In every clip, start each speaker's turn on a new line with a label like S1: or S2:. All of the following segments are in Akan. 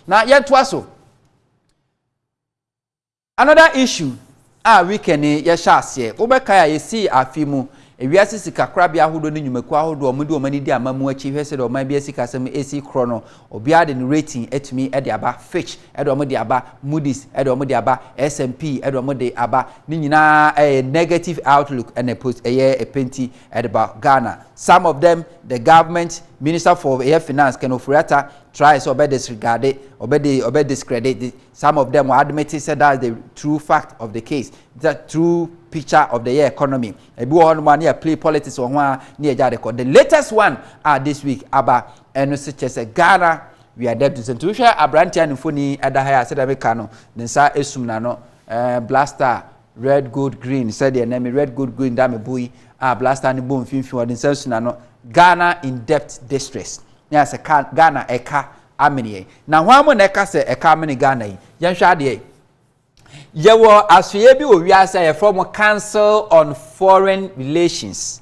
S1: Na yɛntoa so. Another issue a weekend yi yɛhyɛ aseɛ, wobɛkae a yɛsii afe mu ewiase sikakorabea ahodoɔ ne nnwumakuo ahodoɔ a wɔde wɔn ani di ama mu akyi hwɛ sɛdeɛ ɔman bi asikasɛm ɛsi korɔ no, obiara de ne rating atumi de aba, Fitch de wɔn de aba, Moody's de wɔn de aba, S&P de wɔn de aba, ne nyinaa ɛyɛ negative outlook ɛna ɛyɛ ɛpenti. Ɛde ba Ghana, some of them the government minister for ɛyɛ finance Ken Ofori Atta try sɛ ɔbɛ disregarded, ɔbɛ de ɔbɛ discredit some of them wɔ admit sɛ that's the true fact of the case, the true picture of the year economy. Ebi wɔ hɔ nom a ne yɛ play politics wɔ ho a ne yɛ gya de kɔ. The latest one a this week aba ɛno sɛ kyɛ sɛ Ghana we are dead to sɛ nti wohwɛ aberanteɛ a ne mfoni ɛda ha a sɛdeɛ meka no ne nsa esum n'ano ɛɛ blaster Red Gold Green sɛdeɛ nnɛ me Red Gold Green da me bo yi a blaster no bɔ mfimfini ɔde nsa suna no Ghana in depth distress ne asɛ ka Ghana ɛka amene yɛn na hwan mo na ɛka sɛ ɛka amene Ghana yi yɛnhwɛ adeɛ yɛwɔ asoeɛ bi wɔ wiase a yɛfrɛ mo Council on Foreign Relations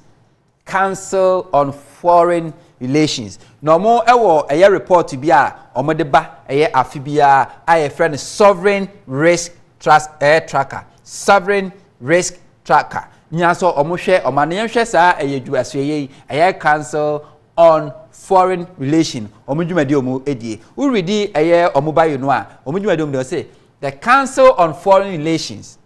S1: Council on Foreign Relations, na wɔwɔ ɛyɛ report bi a wɔde ba ɛyɛ afe biara a yɛfrɛ no Sovereign Risk Trust ɛyɛ Tracker, Sovereign Risk Tracker. Nyina sɛ wɔhwɛ wɔn ano. Yɛnhwɛ saa ɛyɛ dwumasoɛyɛ yi, ɛyɛ Council on Foreign Relation, wɔn dwumadi a wɔdie. Woredi ɛyɛ wɔn bio no a, wɔn dwumadi a wɔdie no, wɔse, The Council on Foreign Relations,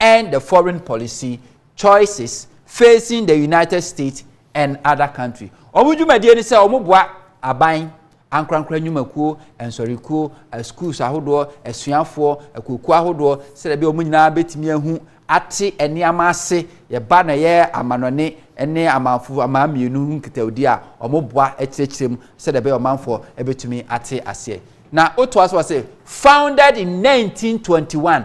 S1: and the foreign policy choices facing the United States and other countries. Wɔn dwumadie ne sɛ wɔboa aban, ankorankora nnwumakuo, nsɔrekuo, asukuus ahodoɔ, asuafoɔ, akuokuo ahodoɔ, sɛdeɛ ɛbɛyɛ wɔn nyinaa bɛtumi ahu ate nneɛma ase, yɛba na ɛyɛ amanɔne ne amanfo aman mmienu ho nkitawdie a, wɔboa kyerɛkyerɛ mu sɛdeɛ ɛbɛyɛ ɔmanfoɔ ɛbɛtumi ate aseɛ. Na wotoa so wɔ se, founded in 1921,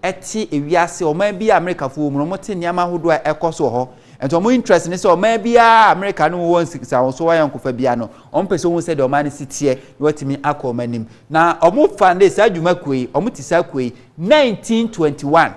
S1: te ewiase ɔman bi a Amerikafo wɔ mu no, wɔte nneɛma ahodoɔ a ɛkɔ so wɔ hɔ. Nti wɔn interest ne sɛ ɔman biara a Amerika ne wɔwɔ nsawosoɔ ayɔnkofa biara no, wɔn pɛ sɛ wɔhu sɛdeɛ ɔman no si teɛ na wɔatumi akɔ wɔn anim. Na wɔn fande saa dwuma kuo yi, wɔn te saa kuo yi 1921.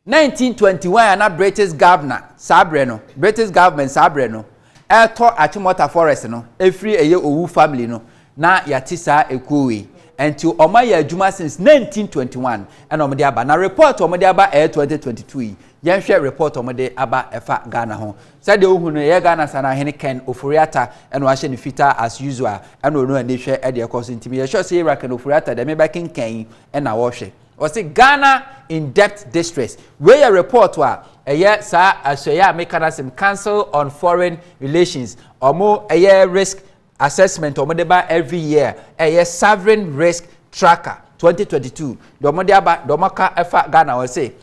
S1: 1921 a na British governor saa berɛ no, British government saa berɛ no, Ɛtɔ Achimota Forest no ɛfiri ɛyɛ Owu family no na yɛate saa ɛkuo wei ɛnti ɔmo ayɛ adwuma since 1921 ɛna ɔmo de aba na report ɔmo de aba ɛyɛ 2022 yi yɛnhwɛ report ɔmo de aba ɛfa Ghana ho sɛdeɛ wohu no ɛyɛ Ghana Sanahene Ken Ofori-Atta ɛna wahyɛ ne fitaa as usual ɛna ɔno ani hwɛ ɛdeɛ ɛkɔ so nti meyɛ sure sɛ Ira Ken Ofori-Atta deɛ mebɛkenkan yi ɛna ɔhwɛ Ɔse Ghana in debt distress. Wei yɛ report a ɛyɛ saa asoɛeɛ a meka no asem Council on Foreign Relations ɔmo ɛyɛ risk assessment ɔmo de ba every year ɛyɛ Sovereign Risk Tracker 2022 deɛ ɔmo de aba deɛ ɔmo aka ɛfa Ghana ɔse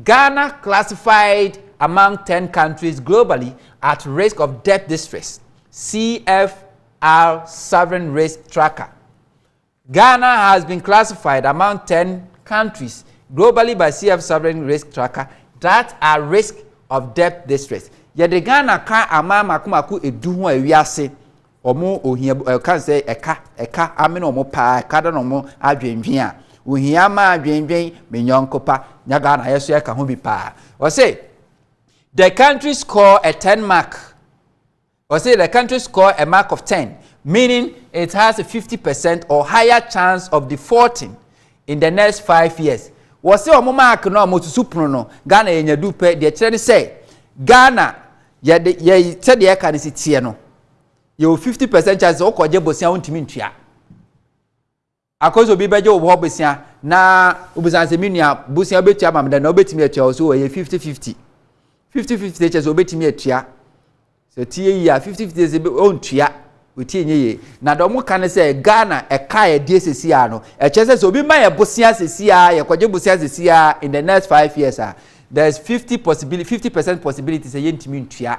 S1: Ghana classified among 10 countries globally at risk of debt distress CFR Sovereign Risk Tracker Ghana has been classified among ten countries globally by CF Sovereign Risk Tracker that are risk of debt distress. Yɛde Ghana ka aman mako mako edu ho a wiase wɔn ohia ɛka sɛ ɛka ɛka amene wɔn paa ɛka da na wɔn adwendwen a ohia ma adwendwen menyɔnko pa nya Ghana yɛ so ɛka ho bi paa. Ɔse the country score a ten mark. Ɔse the country score a mark of ten meaning it has a fifty percent or higher chance of defaulting in the next five years. Wɔse wɔn mark no a wɔsusu pono no Ghana yɛnya du pɛ deɛ kyerɛ ne sɛ Ghana yɛde yɛ sɛdeɛ ɛka no si teɛ no yɛwɔ fifty percent chance sɛ wokɔgye bosea wontumi ntua. Akosi obi bɛgye wo hɔ bosea na wobisa no sɛ, me nua, bosea wobɛtua ma me dɛn? Na wobɛtumi atua wo so ɛyɛ fifty fifty. Fifty fifty kyerɛ sɛ wobɛtumi atua. Sɛ ɔtie yie a, fifty fifty sɛ ɔntua. Ɔtie nyɛ yie. Na deɛ wɔka ne sɛ Ghana ɛka a ɛdeɛ sɛsi a no, ɛkyerɛ sɛ sɛ obi ma yɛ bosea sɛsi a, yɛkɔgye bosea sɛsi a, in the next five years a, there is fifty possibility, fifty percent possibility sɛ yɛntumi ntua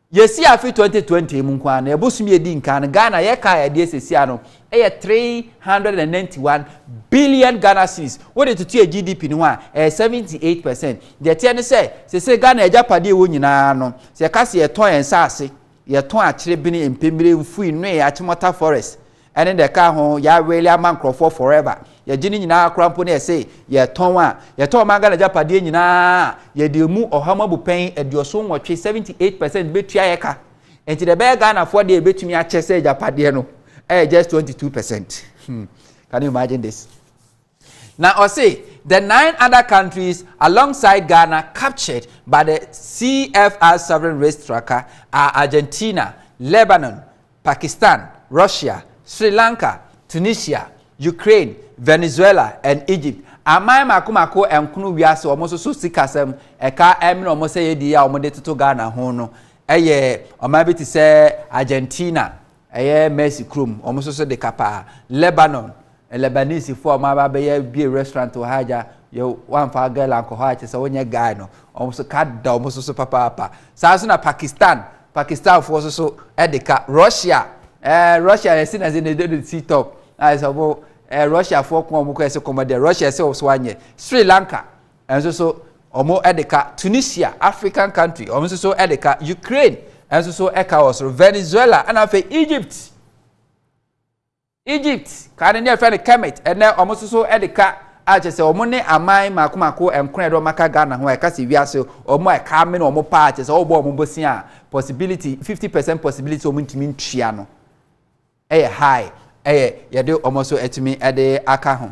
S1: Yɛsii afe 2020 mu nko ara no, ɛbosom a ɛdi nkan no, Ghana yɛkaa a yɛde asiesie ano yɛ 391 billion Ghana cedis. Wode toto yɛn GDP no ho a, ɛyɛ 78 percent. Deɛ ɛteɛ ne sɛ, seesei Ghana agyapadeɛ a ɛwɔ nyinaa no, sɛ yɛka sɛ yɛtɔn yɛn nsaase, yɛtɔn akyere bene, mpemmire, mfui, nnoe, akyemɔta, forest, Ɛne deɛ ɛka ho, yɛ awɛli ama nkorɔfoɔ forever, yɛgye ne nyinaa koraa mpo na yɛse yɛtɔn a, yɛtɔn ɔman Ghana agyapadeɛ nyinaa a, yɛde ɛmu ɔha mu abupɛn aduoson nwɔtwe, 78 percent, bɛtua yɛ ka. Nti deɛ ɛbɛyɛ Ghanafoɔ deɛ yɛbɛtumi akyɛ sɛ agyapadeɛ no, ɛyɛ just 22 percent. Can you imagine this? Na ɔse the nine other countries alongside Ghana captured by the CFR Sovereign Risk Tracker are Argentina, Lebanon, Pakistan, Russia, Sri Lanka, Tunisia, Ukraine, Venezuela and Egypt. Aman mako mako nkono wiase wɔn nso so sikasɛm ɛka ɛmene wɔn sɛ yɛdi yɛ a wɔde toto Ghana ho no ɛyɛ ɔman bi te sɛ Argentina, Ɛyɛ Mercy kurom, wɔn nso so de kapa. Lebanon, Lebanese foɔ a wɔn aba abɛyɛ bie restaurant wɔ ha agya, yɛ wɔamfa girl ankɔ hɔ a kyerɛ sɛ wɔnyɛ guy no, wɔn nso ka da wɔn nso so papaapa. Saa nso na Pakistan, Pakistan foɔ nso so de ka. Russia, ɛɛ Russia yɛsi na se na ɛde no si top, a ɛsɛ wɔn ɛɛ Russia foɔ ko a wɔn kɔ ɛsɛ kɔmɔ deɛ Russia ɛsɛ wɔn so anyɛ. Sri Lanka, nso so ɔmo de ka Tunisia, African country, ɔmo nso so de ka Ukraine, nso so ɛka wɔ soro Venezuela, ɛna afei Egypt. Egypt kaa no ne ɛfɛ no Kemet, ɛnɛ ɔmo nso so de ka a kyerɛ sɛ ɔmo ne aman mako mako nkorɛ de ɔmo aka Ghana ho a ɛka sɛ wiase ɔmo a ɛka amene ɔmo paa kyerɛ sɛ ɔbɔ ɔmo bosia a possibility 50 percent possibility sɛ ɔmo ntumi ntua no ɛyɛ high ɛyɛ yɛde ɔmo so atumi ɛde aka ho.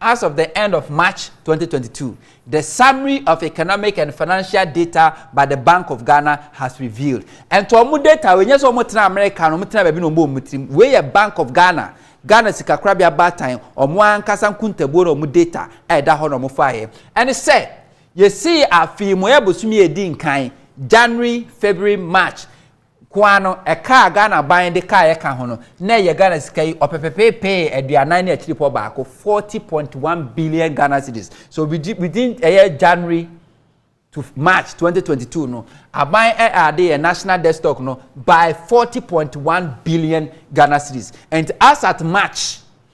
S1: As of the end of March twenty twenty two, the Summary of Economic and Financial Data by the Bank of Ghana has revealed. Ɛnti wɔn data wei nyɛ sɛ wɔn tena America no wɔn tena baabi na wɔn bɔ wɔn tirim. Wei yɛ Bank of Ghana, Ghana Sikakorabea Baatan, wɔn ankasa nkuntabuo na wɔn data a ɛda hɔ na wɔn faeɛ. Ɛne sɛ, yɛsii afei mu ɛyɛ bosome a ɛdi nkan, January, February, March, Koa no, ɛka a Ghana ban de kaeɛ ka ho no, na ɛyɛ Ghana sika yi ɔpepepeepee aduanan ne akyirepɔ baako, forty point one billion Ghana cedis. So within within ɛyɛ January to March twenty twenty two no, aban ɛade yɛ national debt stock no by forty point one billion Ghana cedis. And as at March,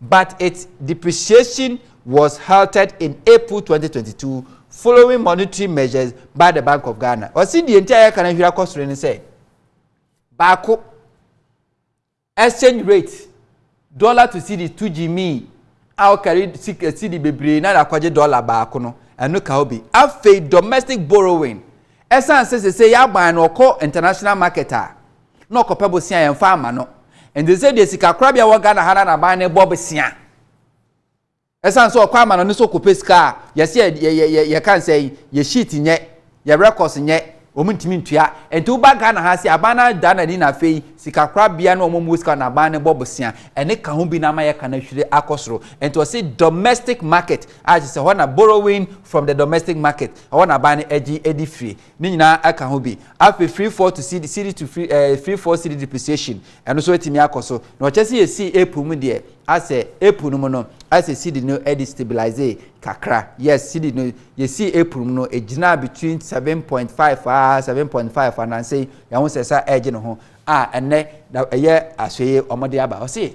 S1: but its depreciation was halted in April twenty twenty two following monetary measures by the Bank of Ghana. Ɔsi deɛ nti a yɛka no hwira kɔ soro ne sɛ baako exchange rate dollar to cedi to gyimi a ɔkari cedi eh, bebree na akɔgye dollar baako no ɛno ka obi afei domestic borrowing ɛsan sɛ sɛ sɛ yɛ aban no ɔkɔ international market a. na ɔkɔpɛ bosea yɛmfa ama no ɛnde sɛ deɛ sika korabea wɔ Ghana ha na naban no bɔ bosea ɛsan sɛ ɔkɔ ama no ne sɛ ɔkɔpɛ sika a yɛsɛ yɛ yɛ yɛ yɛ yɛka nsɛ yi yɛ sheet nyɛ yɛ records nyɛ wɔn ntumi ntua ɛnti woba Ghana ha sɛ aban no ada n'ani na afei sika korabea na wɔn mu sika naban no bɔ bosea ɛne ka ho bi na ama yɛ ka no ahwire akɔ soro ɛnti ɔsi domestic market a kyerɛ sɛ hɔ na borrowing from the domestic market ɛhɔ na aban no agye adi firi Ne nyinaa aka ho bi. Afei free fall to cedi, cedi to free ɛɛ eh, free fall cedi depreciation ɛno so atumi akɔ so. Na ɔkyɛ sɛ yɛsii April mu deɛ asɛ April no mu no asɛ cedi no ɛde stabilize kakra. Yes cedi no yɛsii April mu no ɛgyinaa between seven point five aa ah, seven point five anansɛ yi yɛn ho sɛ sa ɛregye ne ho a ɛnɛ ɛyɛ asɔye wɔn de aba ɔse.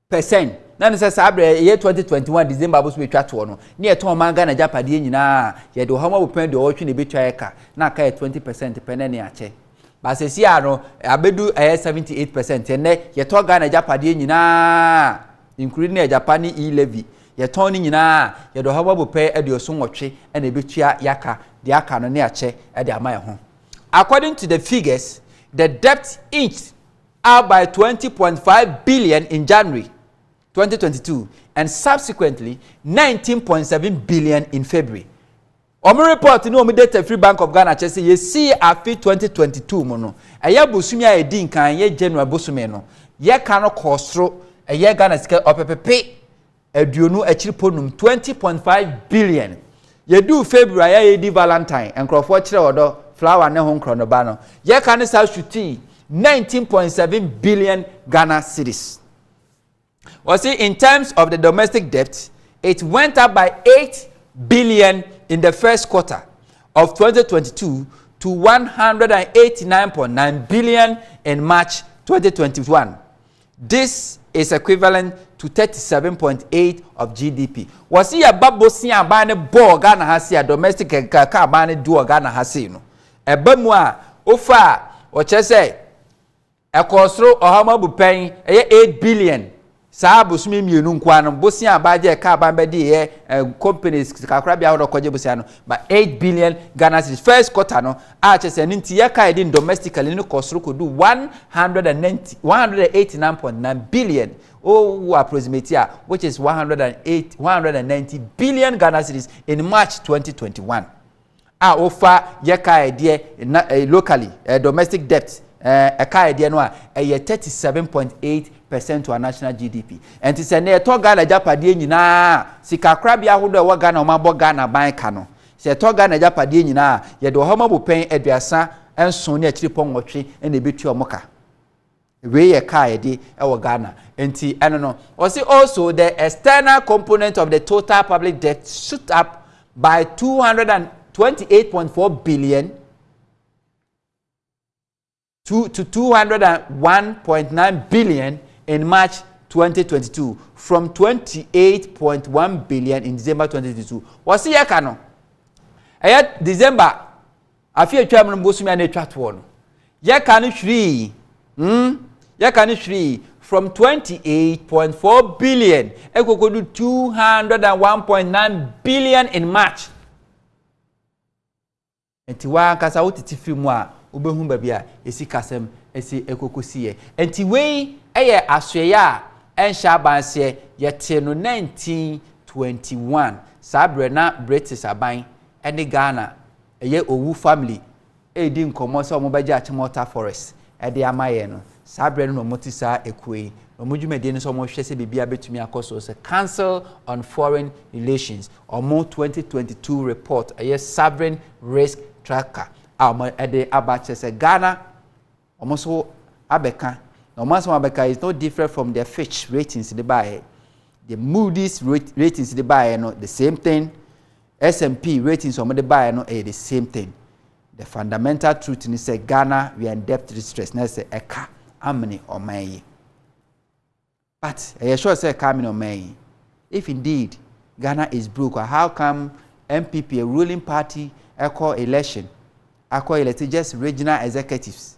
S1: Pɛsɛn, na ne sɛ saa berɛ a ɛyɛ 2021 December aboso bɛtwa toɔ no, ne yɛtɔn ɔman Ghana agyapadeɛ nyinaa a, yɛde ɔha mu abɔpem aduɔwɔtwe na ɛbɛtua yɛ ka, na aka yɛ 20 percent pɛ na ne akyɛ. But seesei ara no, abɛdu ɛyɛ 78 percent, ɛnnɛ yɛtɔ Ghana agyapadeɛ nyinaa a, including agyapa ne e-levy, yɛtɔn ne nyinaa a, yɛde ɔha mu abɔpɛ aduoson nwɔtwe na ɛbɛtua yɛ aka, deɛ aka no ne akyɛ de ama yɛ ho. According to the figures, the debt inched. up by twenty point five billion in January twenty twenty two and subsequently nineteen point seven billion in February. Wɔn report ne wɔn data firi Bank of Ghana kyerɛ sɛ yɛsii afe twenty twenty two mu no, ɛyɛ bosome a ɛdi nkan, ɛyɛ January bosome no, yɛka no kɔɔ soro, ɛyɛ Ghana sika ɔpepepe aduonu akyiri po num twenty point five billion yɛduu february a yɛdi valentine nkurɔfoɔ kyerɛ ɔdɔ flower ne ho nkorɔnoba no yɛka ne saa sutii nineteen point seven billion ghana cedis wɔsi in terms of the domestic debt it went up by eight billion in the first quarter of twenty twenty two to one hundred and eighty nine point nine billion in march twenty twenty one. This is equivalent to thirty seven point eight of GDP. Wɔsi yɛ ba bosia aban ne bɔɔ Ghana ha sei a domestic nkaka aban ne di wɔ Ghana ha sei no ɛba mu a wofa a wɔkyerɛ sɛ ɛkɔɔ soro ɔham abu pɛn ɛyɛ eight billion saa abosomi mmienu nkoa no bosia aban gye ɛka aban bɛdi yɛ companies kakorabea ahodoɔ kɔgye bosia no ba eight billion Ghana cedis first quarter no a kyerɛ sɛ ɛno nti yɛkae din domestically no kɔ soro kɔdu 190 189.9 billion o wo approximate a which is 108 190 billion Ghana cedis in March 2021 a wofa yɛkae deɛ na eh, locally eh, domestic debt ɛkae eh, deɛ no a ɛyɛ 37.8 percent to our national GDP ɛnti sɛ na ɛtɔ Ghana agyapadeɛ nyinaa sikakorabea ahodoɔ ɛwɔ Ghana wɔn abɔ Ghana ban ka no Sɛ ɛtɔ Ghana agyapadeɛ nyinaa a, yɛde ɔhama bopɛn aduasa nson ne akyiripɔ nwɔtwe na ɛbɛtua wɔn ka. Wei yɛ ka a yɛde wɔ Ghana. Nti ɛno no, ɔse also the external component of the total public debt shoot up by 228.4 billion two to two hundred and one point nine billion in March twenty twenty two from twenty eight point one billion in December twenty twenty two wɔsi yɛ ka no ɛyɛ December afi atwa mu no bosomi a na atwa toɔ no yɛ ka no hwirii hmm yɛ ka no hwirii from twenty eight point four billion ɛkoko do two hundred and one point nine billion in March. Ɛnti wo ankasa wo tete firi mu a wobɛhu baabi a ɛsikasɛm asi ɛkɔkɔsiiɛ. Ɛnti wei yɛ asoɛeɛ a ɛnhyɛ aban aseɛ, yɛtee no 1921, saa berɛ na British aban ne Ghana ɛyɛ Owu family ɛredi nkɔmmɔ sɛ wɔbɛgye akyem Otta Forest de ama yɛn no, saa berɛ no na wɔte saa ekuo yi, na wɔn dwumadie no sɛ wɔhwɛ sɛ biribiara bɛtumi akɔ so sɛ Council on Foreign Relations, wɔn 2022 report, ɛyɛ Sovereign Risk Tracker a wɔde aba kyerɛ sɛ Ghana, wɔn nso abɛka, na wɔn asɛm abɛka is no different from the Fitch ratings de baeɛ, the Moody's ratings de baeɛ no the same thing, S&P ratings wɔn de baeɛ no ɛyɛ the same thing. The fundamental truth ne sɛ Ghana we are in debt distress na sɛ ɛka amene ɔman yi. But ɛyɛ sure sɛ ɛka amene ɔman yi? If indeed Ghana is broke a how come NPP a ruling party ɛkɔ election akɔ elect just regional executives?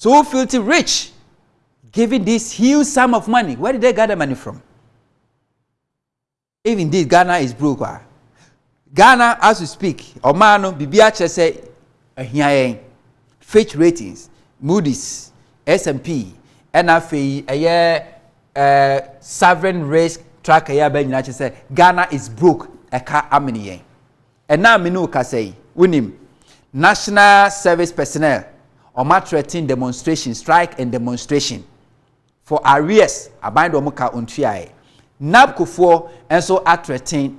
S1: So wo filthy rich giving this huge sum of money where did they gather money from even this ghana is broke ah ghana as we speak ɔmaa no biribi akyerɛ sɛ ahia yɛn fitch ratings moody's S&P ɛna afei ɛyɛ ɛɛ eh, sovereign risk tracker yɛ abɛn nyinaa kyerɛ sɛ ghana is broke ɛka amene yɛn. Ɛnnɛ a me ne wo kasa yi, wonim, National Service Personnel, wɔn atrɛten demonstration, strike and demonstration for arrears, aban de wɔn ka wɔntuaeɛ. NABCO foɔ nso atrɛten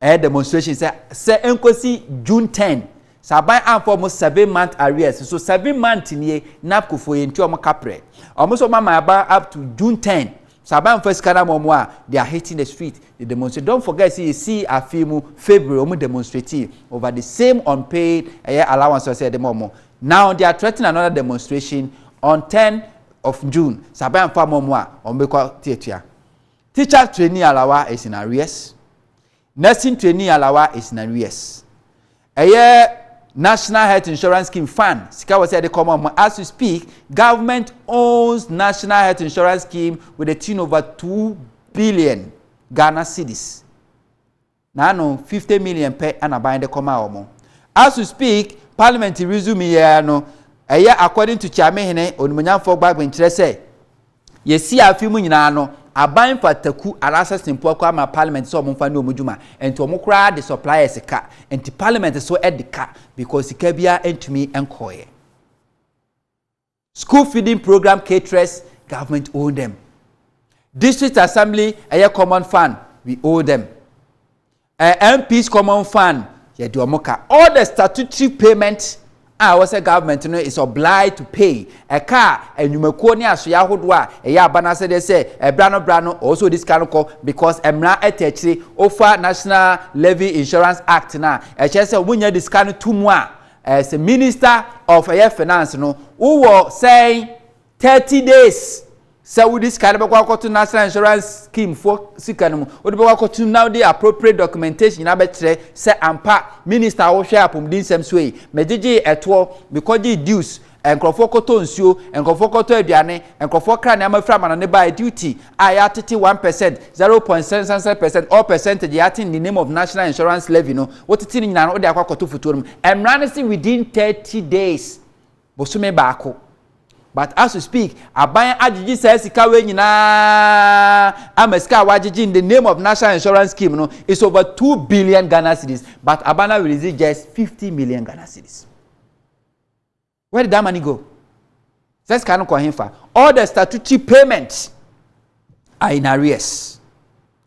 S1: ɛyɛ demonstration sɛ sɛ ɛnkɔsi June 10, sɛ aban amfa wɔn seven month arrears, so seven month nie NABCO foɔ yɛntua wɔn kaprɛ. Wɔn nso wɔn ama aban up to June 10, Sa ba nfa sika no ama ɔmo a they are hitting the street they demonstrate don't forget sɛ yɛsii afee mu February ɔmo demonstratee over the same unpaid ɛyɛ allowance ɔsɛ yɛde ma ɔmo now they are threatening another demonstration on ten of June sa ba nfa ama ɔmo a ɔmo bɛkɔ teatua teacher trainee alawa is in arrears Nursing Trainee Alawa is Nawies. Ɛyɛ National Health Insurance Scheme, FAN, sika wɔ sɛ yɛde kɔma wɔn. As we speak, government owns National Health Insurance Scheme with a tune over two billion Ghana cedis. Na ano fifty million pɛ na ban de kɔma wɔn. As we speak, Parliament resume yɛ no, ɛyɛ according to Kyeamehene Onimonyamfoɔ Gbagben kyerɛ sɛ, Yɛsii afe mu nyinaa no, aban mpataku anaasɛ sempo akɔ ama parliament sɛ wɔmfa nyɛ wɔn adwuma, nti wɔn koraa de suppliers ka, nti parliament nso de ka, because sika biara ntumi nkɔeɛ. School feeding program caterers, government own them. District assembly, ɛyɛ common fund, we owe them. Eh MPs common fund yɛ deɛ ɔmo ka. All the statutory payment a ɛwɔ sɛ government no is obliged to pay ɛka a ɛnwumakuo ne asoeɛ ahodoɔ a ɛyɛ aba no asɛdeɛ sɛ ɛbra no bra no ɔwɔ sɛ ɔdi sika no kɔ because ɛmra ɛta akyire ofa national levy insurance act no a ɛkyerɛ sɛ ɔmo nyɛ de sika no to mu a as a minister of ɛyɛ finance no wowɔ sɛn Thirty days sɛ wode sika no bɛkɔ akɔto national insurance scheme fo sika no mu wode bɛkɔ akɔto na wode appropriate documentation nyinaa bɛkyerɛ sɛ ampa minister a wohwɛ apɔmuden nsɛm so yi megyegyee ɛtoɔ mekɔgyee dues nkurɔfoɔ kɔtɔ nsuo nkurɔfoɔ kɔtɔ aduane nkurɔfoɔ kra nneɛma firi amana ne baa duty a yɛatete one percent zero point seven seven percent all percentage yɛate in the name of national insurance levy no wotete no nyinaa no wode akɔ akɔto fotuo no mu mmara no se within thirty days Bosome baako. But as we speak, aban agyegye saa sika wei nyinaa ama sika a wagyegye in the name of national insurance scheme no is over two billion Ghana cedis but aban no release just fifty million Ghana cedis. Where did that money go? Sɛ sika no kɔ hefa? All the statutory payments are in arrears.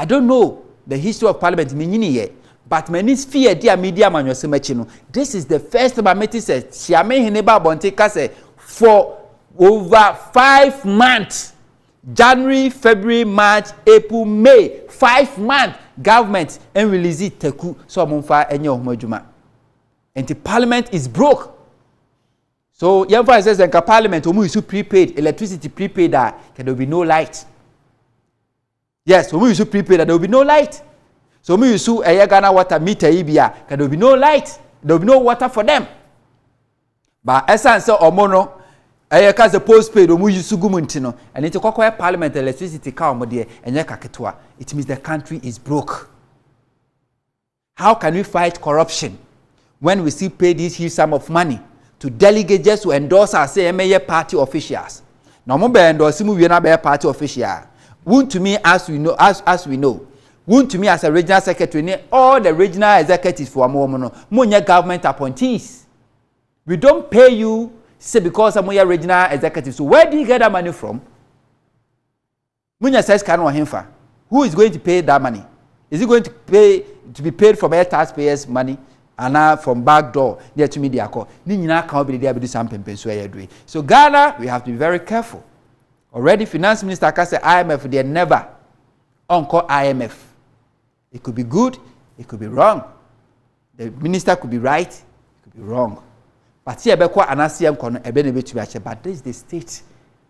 S1: I don't know the history of parliament, me nyinii ɛ but m'ani fii adi a medi amanyɔsɛm akyi no, this is the first time a mete sɛ Siame hene ba abɔnten ka sɛ for over five months, January, February, March, April, May, five months government and release taku sɛ ɔmo mfa ɛnyɛ ɔmo adwuma. Nti parliament is broke. So yɛmfa sɛ sɛ nka parliament ɔmo isu prepaid electricity prepaid a there will be no light. Yes, wɔn use prepaid a there will be no light. So wɔn use ɛyɛ Ghana water meter yi bi a ka there will be no light, there will be no water for them. Ba ɛsan sɛ wɔn no ɛyɛ ka sɛ postpaid wɔn use gu mu nti no, ɛne nti kɔkɔɛ parliament electricity ka wɔn deɛ ɛnyɛ ka ketewa. It means the country is broke. How can we fight corruption when we still pay this huge sum of money to delegates just to endorse us sɛ yɛmmɛyɛ party officials? Na wɔn bɛ endorse mu wie na abɛyɛ party official a, wuntumi as we know as as we know wuntumi as a regional secretary ne all the regional executives for wɔn wɔn no mo nyɛ government appointees. We don't pay you say because mo yɛ regional executives so where do you get that money from? Munya saa sika no wɔ henfa? Who is going to pay that money? Is it going to pay to be paid from air tax payers money anaa from back door na yɛtumi de akɔ? Ne nyinaa ka ho bi de de abedu saa mpɛmpɛnsu a yɛadu yi. So Ghana we have to be very careful. Already finance minister aka sɛ IMF deɛ never ɔnkɔ IMF. it could be good it could be wrong the minister could be right it could be wrong but sɛ yɛbɛkɔ anaasɛ yɛnkɔ no ɛbɛ na ɛbɛtumi akyɛ but this is the state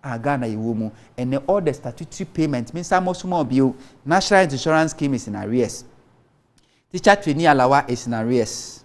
S1: a ghana yɛwɔ mu ɛnɛ all the statutory payment mensa mmɔ so ma ɔbio national insurance scheme is in arrears teacher trainee alawa is in arrears